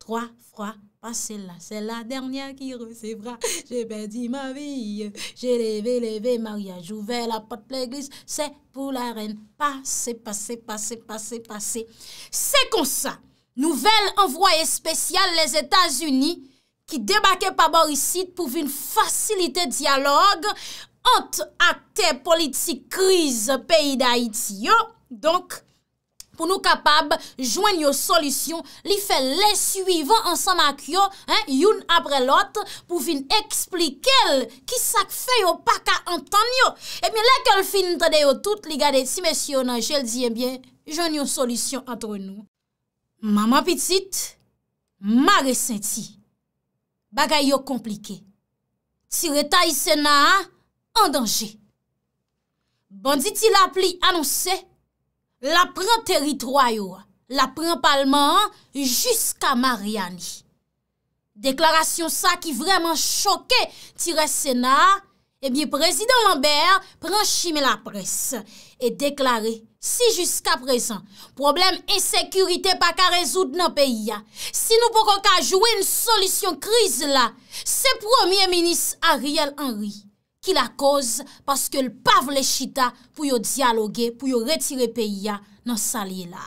3 fwa pase la se la dènyè ki resevra je pèdi ma vi je leve leve maryaj ouvè la pòt legliz se pou la rèn pase pase pase pase pase se konsa nouvèl anvwaye espesyal lèzetazini ki debake pa bò isit pou vin fasilite dyalòg ant aktè politik kriz peyi dayiti yo donk pou nou kapab jwenn yo solisyon, li fè lè swivan ansanm ak yo, youn apre lòt, pou vin eksplike l ki sa k fè yo pa ka antann yo. Ebyen, lè ke l fin tande yo tout, li gade ti mesye yo nan je, l di, ebyen, jwenn yon solisyon antre nou. Manman pitit, mare senti. Bagay yo konplike. Ti retay Sena a an danje. Banditi lapli anonse l ap pran teritwa yo, l ap pran palman an jiska Maryani. Deklarasyon sa ki vrèman choke ti rès Sena a Ebyen Prezidan Lambert pran chimen laprès e deklare si jiska prezan pwoblèm ensekirite pa ka rezoud nan peyi a, si nou poko ka jwenn solisyon kriz la, se Premye Minis Ariel Henry ki lakoz paske l pa vle chita pou yo dyaloge pou yo retire peyi a nan sal ye la.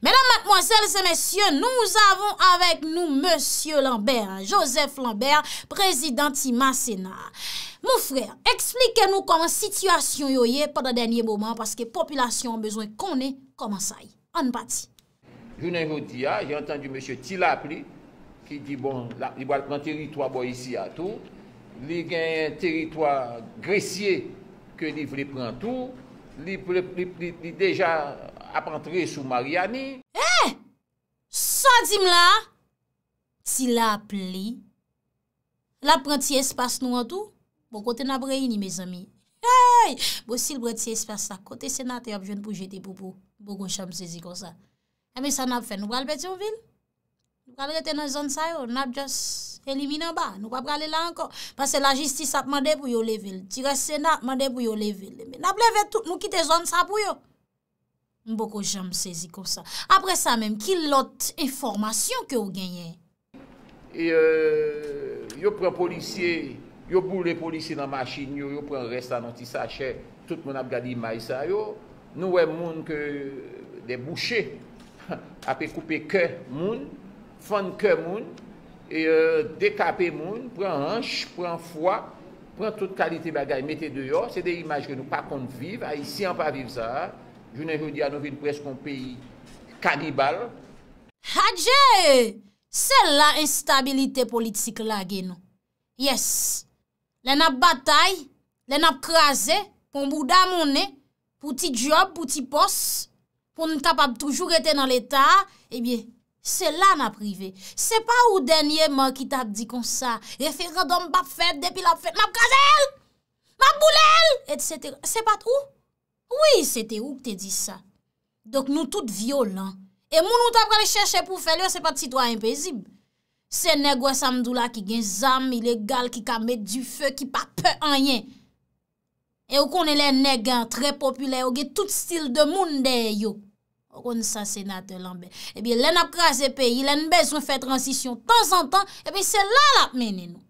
Medam, matmwazèl, se mesye, nou zavon avèk nou mesye Lambert, Joseph Lambert, prezidan ti masena. Mon frè, eksplike nou kòman sitiyasyon yo ye pandan dènye moman paske popilasyon bezwen konnen kòman sa ye. Ann pati. Jounen jodi a, jen antandi mesye Ti Lapli ki di bon li pral pran teritwa bò isi a tou. Li genyen teritwa Gresye ke li vle pran tou. Li deja ap antre sou Maryani. Hee! Sa w di m la a? Ti Lapli. Lap pran ti espas nou an tou? Bon kote nap reyini mezanmi? Hey! Bon sil pran ti espas la kote senatè ap jwenn pou jete poupou? Bon gwo chan m sezi konsa. Enben sa nap fè? Nou pral Petyonvil? Nou pral rete nan zòn sa yo? Nap just elimine anba? Nou pa prale la ankò? Pase la jistis ap mande pou yo leve l. Ti rès sena ap mande pou yo leve l. Enben nap leve tout nou kite zòn sa pou yo? M poko janm sezi konsa. Apre sa menm ki lòt enfòmasyon ke w genyen? Yo pran polisye, yo boule polisye nan machin yo, yo pran rès la nan ti sachè, tout moun ap gad imaj sa yo, nou wè moun ke dè bouche ape koupe kè moun. Fann kè moun, dekape moun, pran hanch, pran fwa, pran tout kalite bagay mete deyò, se de imaj ke nou pa konn viv, Ayisyen an pa viv sa a, jounen jodi a nou vin prèske yon peyi kanibal. Hadjee! Se la enstabilite politik lage nou. Yes! Lè n ap batay, lè n ap kraze, pou bouda monnen, pou ti dyòb, pou ti pòs, pou n kapab toujou rete nan leta, ebyen, se la n ap rive. Se pa ou dènyeman ki t ap di konsa, referandòm p ap fèt, depi l ap fèt, m ap kraze l! M ap boule l! Etsetera. Se pa t ou? Wi, se te ou k te di sa. Donk nou tout vyolan. E moun ou ta pral chèche pou fè l yo se pa t sitwayen pezib. Se nèg wè sa m di w la ki gen zam ilegal ki ka met dife ki pa pè anyen. E ou konnen lè nèg an trè popilè yo gen tout stil de moun dèyè yo. Ou konn sa senatè lanbè. Ebyen lè n ap kraze peyi, lè n bezwen fè transisyon tanzantan, ebyen se la l ap mennen nou.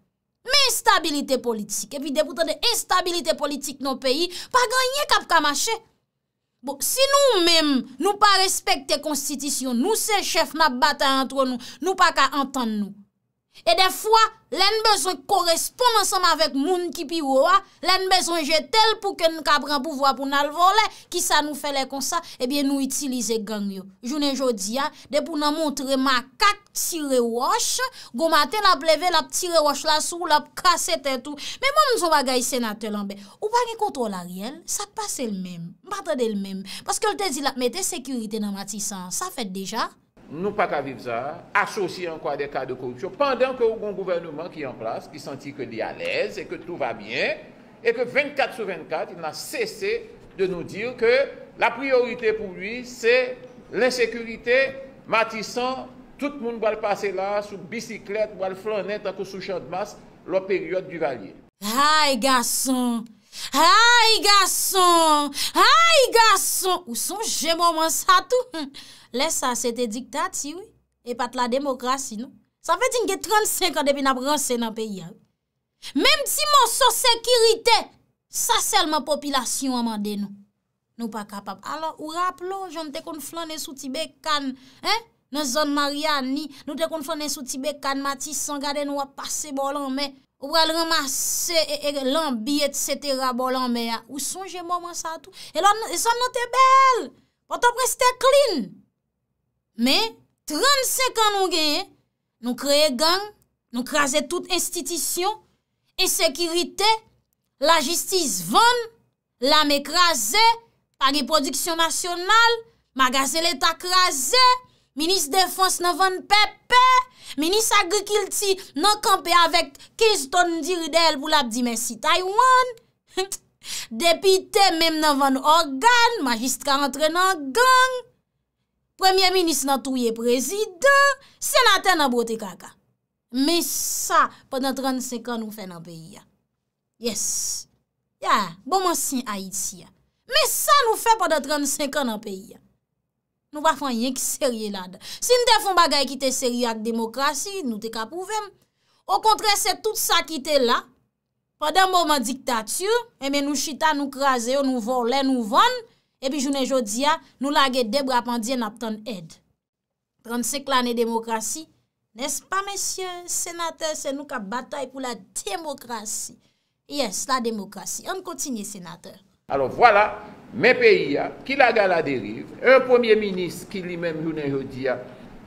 Men estabilite politik. Epi depi w tande estabilite politik nan yon peyi, pa gen anyen k ap ka mache. Bon si nou menm nou pa respekte konstitisyon nou se chèf nap batay antre nou nou pa ka antann nou. E dè fwa lè n bezwen koresponn ansanm avèk moun ki pi wo a lè n bezwen jete l pou ke n ka pran pouvwa pou n al vòlè kisa nou fè lè konsa ebyen nou itilize gang yo jounen jodi a Depi w nan montre makak tire wòch, gon maten l ap leve l ap tire wòch la sou w l ap kase tèt ou. Men ban m di w yon bagay Senatè Lanbè, ou pa gen kontwòl Ariel, sa k pase l menm? M pa tande l menm. Paske l te di l ap mete sekirite nan Matisan an, sa fèt deja? Nou pa ka viv sa a, asosye ankò a de ka de koripsyon, pandan ke ou gon gouvèneman ki an plas, ki santi ke li alèz e ke tou va byen, et que 24 sur 24 il n'a cessé de nous dire que la priorité pour lui c'est l'insécurité, Matissan tout moun pral pase la sou bisiklèt pral flannen tankou sou chandmas lò peryòd Duvalier. Hay gason! Hay gason! Hay gason! Ou sonje moman sa tou? Lè sa se te diktati wi, e pa t lademokrasi non. Sa vle di n gen 35 an depi n ap ranse nan peyi a wi. Menm ti moso sekirite, sa sèlman popilasyon an mande nou. Nou pa kapab. Alò, ou raple ou, jan nou te konn flannen sou ti bekàn, hein, nan zòn Maryani, nou te konn flannen sou ti bekàn Matisan, gade nou ap pase bò lanmè, ou pral ranmase lanbi et setera bò lanmè a. Ou sonje moman sa tou? E lò, zòn nan te bèl! Pòtoprens te clean! Men, 35 an nou genyen, Nou kreye gang, nou kraze tout enstitisyon, ensekirite, lajistis vann, lame kraze, pa gen pwodiksyon nasyonal, magazen leta kraze, minis defans nan vann pepe, minis agrikilti nan kanpe avèk 15 ton diri dèyè l pou l ap di mèsi Taiwan, depite menm nan vann ògàn, majistra antre nan gang. Premye minis nan touye prezidan, senatè nan bwote kaka. Men sa pandan 35 an nou fè nan peyi a. Yes. Ya, bon mwen sin Ayiti a. Men sa nou fè pandan 35 an nan peyi a. Nou pa fwen yen ki serye la dan. Si n te fwen bagay ki te serye ak demokrasi, nou te ka pouvem. Okontre se tout sa ki te la. Pandan moman dictature, enben nou chita nou kraze yo, nou vòlè, nou vann, epi jounen jodi a, nou lage 2 bra pandye nap tann èd. 35 lane demokrasi, nès pa mesye senatè se nou kap batay pou la demokrasi. Yes, la demokrasi. Ann kontinye senatè. Alò vwala, men peyi a, ki lage a la deriv, yon premye minis ki li menm jounen jodi a,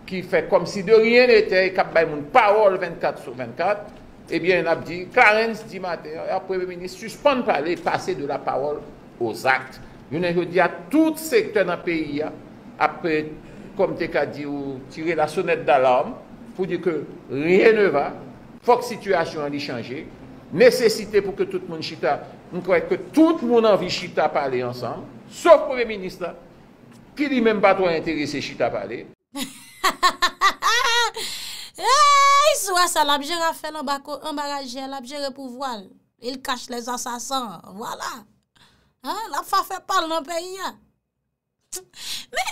ki fè kòm si de ryen netè e k ap bay moun pawòl 24 sou 24, ebyen n ap di, Clarens di maten an, a premye minis sispann pale, pase de la pawòl o zakt. Jounen jodi a, tout sektè nan peyi a ap, kòm te ka di ou, tire la sonèt dalarm, pou di ke ryen ne va. Fòk sitiyasyon an li chanje. Nesesite pou ke tout moun chita, m kwè ke tout moun anvi chita pale ansanm, sof premye minis la, ki li menm pa twò enterese chita pale. Eeyy swa sa lap jere afè l anba ko anba rajè lap jere pouvwa l il cache les assassins vwala haa lap fè afè pa l nan peyi a men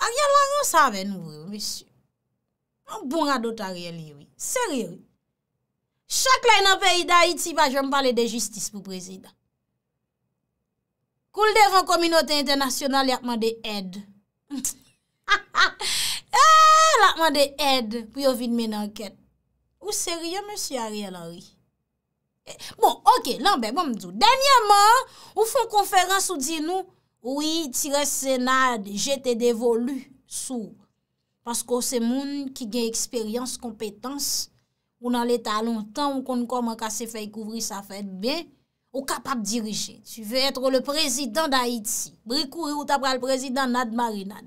Ariel la ranse avè nou vre wi mesye. Yon bon radot Ariel ye wi. Serye wi. Chak lè nan peyi Dayiti pa janm pale de jistis pou prezidan. Kou l devan kominote entènasyonal y ap mande èd. Ha ha. Eee l ap mande èd pou yo vin mennen ankèt. Ou serye mesye Ariel Henry? Bon ok lanbè banm di w. Dènyèman ou fon konferans ou di nou wi ti rès sena jete devolu sou w. Paske w se moun ki gen eksperyans, konpetans, ou nan leta lontan, ou konn kòman kase fèy kouvri sa fè byen, ou kapab dirije. Tu veux être le président d'Haïti. Bri kouri ou ta pral prezidan nad marinad.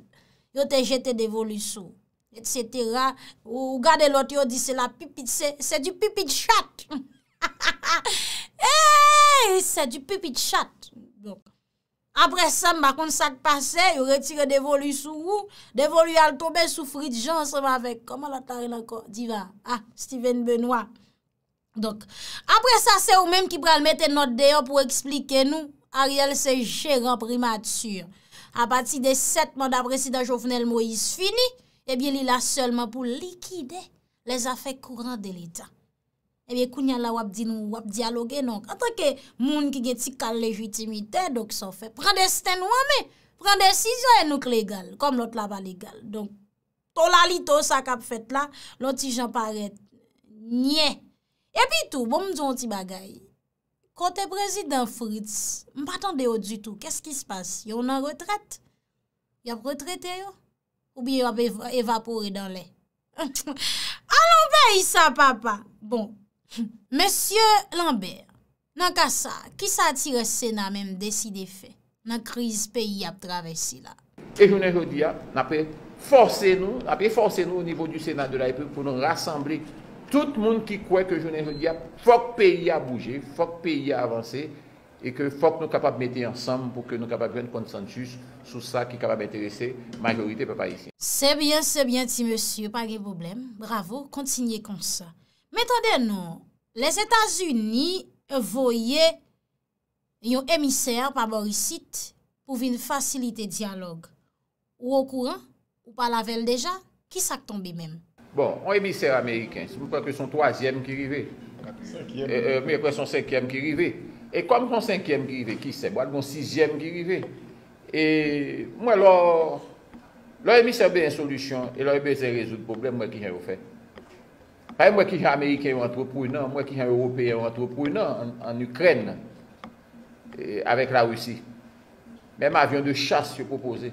Yo te jete devolu sou. Et setera, ou gade lòt yo di se la pipit, se di pipit chat. Ha ha ha ha! Eeeey! Se di pipit chat. Aprè sa m pa konn sa k pase, yo retire Devolu sou ou, Devolu al tonbe sou Fritz Jean ansanm avèk, kòman lòt la rele ankò, Diva, a, Steven Benoît. Donk, aprè sa se ou menm ki pral mete nòt deyò pou eksplike nou, Ariel se jeran Primati. A pati de 7 manda Prezidan Jovenel Moïse fini, ebyen li la sèlman pou likide lèzafè kouran de leta. Ebyen kounya la wap di nou wap dyaloge donk antanke moun ki gen ti kal lejitimite donk sa w fè pran desten nou an men, pran desizyon e nou k legal kòm lòt la pa legal donk to lalito sa kap fèt la lon ti jan parèt nyè. Epi tou bon m di w on ti bagay kote prezidan Fritz m pa tande yo ditou kès ki se pase yo nan retrèt? Y ap retrete yo? Oubyen y ap evapore dan lè? Alon peyi sa papa! Bon, mesye Lambert, nan ka sa, ki sa ti rès Sena menm deside fè nan kriz peyi ap travèse la? E jounen jodi a, n ap efòse nou, n ap efòse nou o nivo di Sena de la Repiblik pou nou rasanble tout moun ki kwè ke jounen jodi a fòk peyi a bouje, fòk peyi a avanse, e ke fòk nou kapab mete ansanm pou ke nou kapab jwenn konsansus sou sa ki kapab enterese majorite pèp ayisyen. Se byen se byen ti mesye pa gen pwoblèm bravo kontinye konsa men tande non lèzetazini voye Yon emisè pa bò isit pou vin fasilite dyalòg Ou okouran? Ou pale avè l deja? Ki sa k tonbe menm? Bon, yon emisè ameriken, m kwè ke s on twazyèm ki rive. M kwè s on senkyèm ki rive. E kòm s on senkyèm ki rive, ki sèb, w al gen yon sizyèm ki rive. E m wè lò yon emisè bezwen solisyon e lò yo bezwen rezoud pwoblèm, m wè ki jan yo fè. Anpay m wè kijan ameriken yo antreprenan, m wè kijan ewopeyen yo antreprenan an Ukraine avèk la Russie. Menm avion de chasse yo propoze.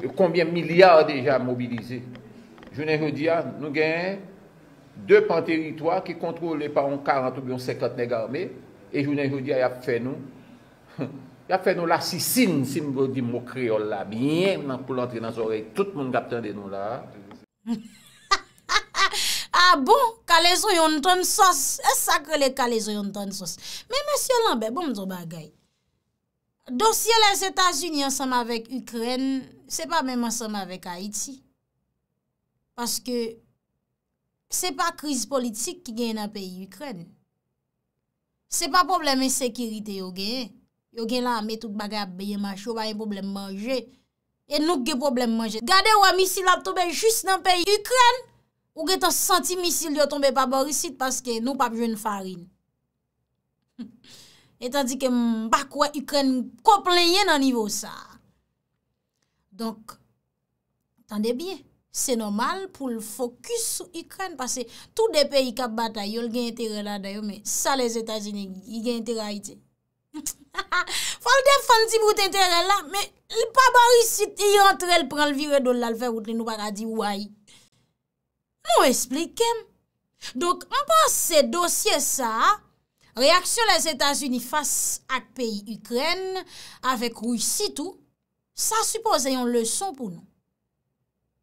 Yo konbyen milya deja mobilize. Jounen jodi a nou gen 2 pan teritwa ki kontrole pa yon 40 oubyen yon 50 nèg arme e jounen jodi a yap fè nou yap fè nou lasisin si m go di mo kreyòl la byen nan poul antre nan zòrèy tout moun kap tande nou la a. A bon, kalezo yon ton sos. E sak rele kalezo yon ton sos. Men mesye lanbe, bon mdou bagay. Dosye les Etats-Unis ansanm avek Ukren, se pa menm ansanm avek Haiti. Paske, se pa kriz politik ki gen nan peyi Ukren. Se pa pwoblèm ensekirite yo genyen, yo gen lame tout bagay ap byen mache, yo pa gen pwoblèm manje, e nou k gen pwoblèm manje. Gade wè misil ap tonbe jis nan peyi Ikrèn, ou gen tan santi misil yo tonbe pa bor isit paske nou pap jwenn farin. Etandike m pa kwè Ikrèn ko plenyen nan nivo sa. Donk, tande byen, se nòmal pou l fokis sou Ikrèn pase tou de peyi k ap batay yo l gen enterè ladan yo men sa Lèzetazini li gen enterè Ayiti? Ha ha! Fò l defann ti bout enterè l la men li pa bò isit li rantre l pran l vire do l la l fè wout li nou pa ka di ou ayy. Nou esplike m. Donk m panse dosye sa a, reyaksyon Lèzetazini fas ak peyi Ikrèn, avèk Risi tou, sa sipoze yon leson pou nou.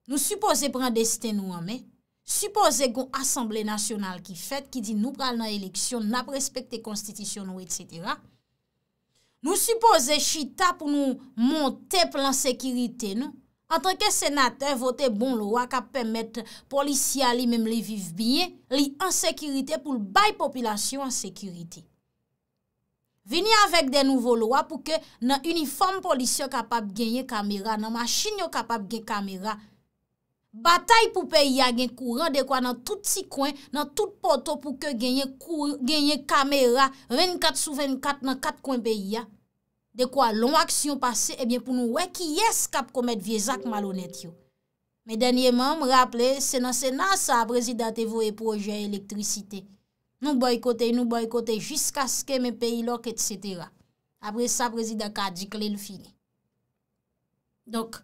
Nou sipoze pran desten nou an men, sipoze gon asanble nasyonal ki fèt ki di nou pral nan eleksyon, n ap respekte konstitisyon nou, etsetera. Nou sipoze chita pou nou monte plan sekirite nou. Antanke senatè vote bon lwa kap pèmèt polisye a li menm li viv byen, li an sekirite pou l bay popilasyon an sekirite. Vini avèk de nouvo lwa pou ke nan inifòm polis yo kapab genyen kamera, nan machin yo kapab gen kamera. Batay pou peyi a gen kouran dekwa nan tout ti kwen, nan tout poto pou ke genyen kou, genyen kamera 24 sou 24 nan 4 kwen peyi a. Dekwa lon aksyon pase ebyen pou nou wè kiyès kap komèt vye zak malonèt yo. Men dènyeman m raple se nan sena sa prezida te voye pwojè elektrisite. Nou boykote, nou boykote jiskaske men peyi lòk etc. Apre sa prezida ka di kle l fini. Donk,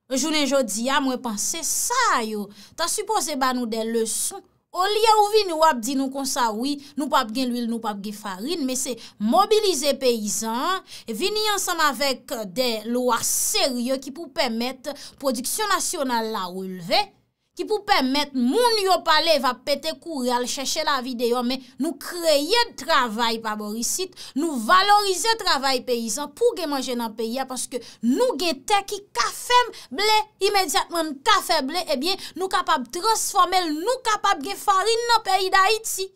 jounen jodi a mwen panse sa yo ta sipoze ba nou de leson olye ou vini wap di nou konsa wi nou pap gen lwil nou pap gen farin men se mobilize peyizan an vini ansanm avèk de lwa serye ki pou pèmèt pwodiksyon nasyonal la relve. ki pou pèmèt moun yo pale va pete kouri al chèche lavi deyò men nou kreye travay pa bò isit, nou valorize travay peyizan pou gen manje nan peyi a paske nou gen tè ki ka fè ble imedyatman n ka fè ble ebyen nou kapab transfòme l nou kapab gen farin nan peyi dayiti.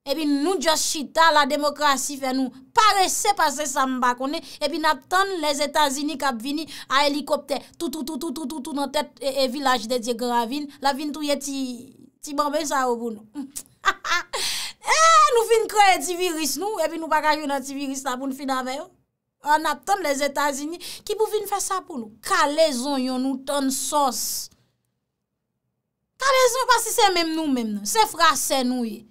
Epi nou just chita la demokrasi fè nou parese pase sa m pa konnen epi n ap tann lè zetazini k ap vini a elikoptè toutoutoutoutoutou nan tèt e vilaj de dye gran ravin l ap vin touye ti banben sa yo pou nou hahahaa ee nou fin kreye ti viris nou epi nou pa ka jwenn antiviris la pou n fin avè yo an n ap tann lè zetazini ki pou vin fè sa pou nou kale zonyon nou tann sòs. Kalez mwen pa si se menm nou menm nan, se frasè nou ye.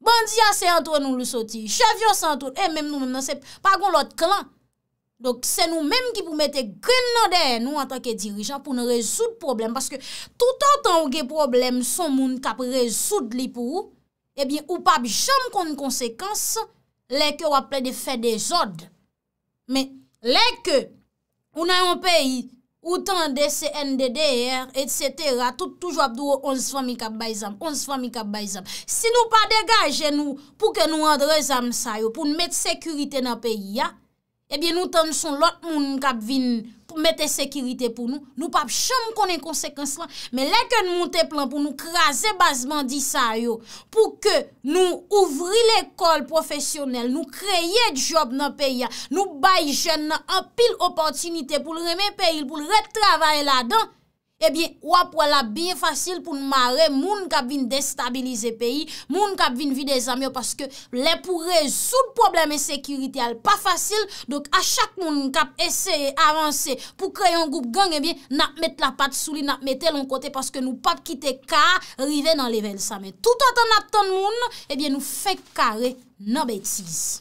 Bandi a se antre nou li soti, chèf yo se antre, e menm nou menm nan se pa gon lòt klan. Donk se nou menm ki pou mete grenn nan dèyè nou antanke dirijan pou n rezoud pwoblèm. Paske toutotan ou gen pwoblèm son moun k ap rezoud li pou ou, ebyen ou p ap janm konn konsekans lè ke w ap plede fè dezòd. Men, lè ke ou nan yon peyi, ou tande CNDDR, et cetera, tout toujou ap di w 11 fanmi kap bay zam, 11 fanmi kap bay zam. Si nou pa degaje nou pou ke nou andre zam sa yo, pou nou met sekirite nan peyi a, ebyen nou tann son lòt moun kap vin. pou mete sekirite pou nou, nou pap janm konnen konsekans lan, men lè ke n moute plan pou nou kraze baz bandi sa yo, pou ke nou ouvri lekòl pwofesyonèl, nou kreye djòb nan peyi a, nou bay jèn nan anpil opòtinite pou l renmen peyi l, pou l ret travay ladan, Ebyen, w ap wè l ap byen fasil pou n mare moun k ap vin destabilize peyi, moun k ap vin vide zam yo paske lè pou rezoud pwoblèm ensekirite a l pa fasil. Donk a chak moun k ap eseye avanse pou kreye yon gwoup gang ebyen n ap met lapat sou li, n ap mete l yon kote paske nou pap kite ka a rive nan level sa. Men toutotan n ap tann moun ebyen nou fenk kare nan betiz.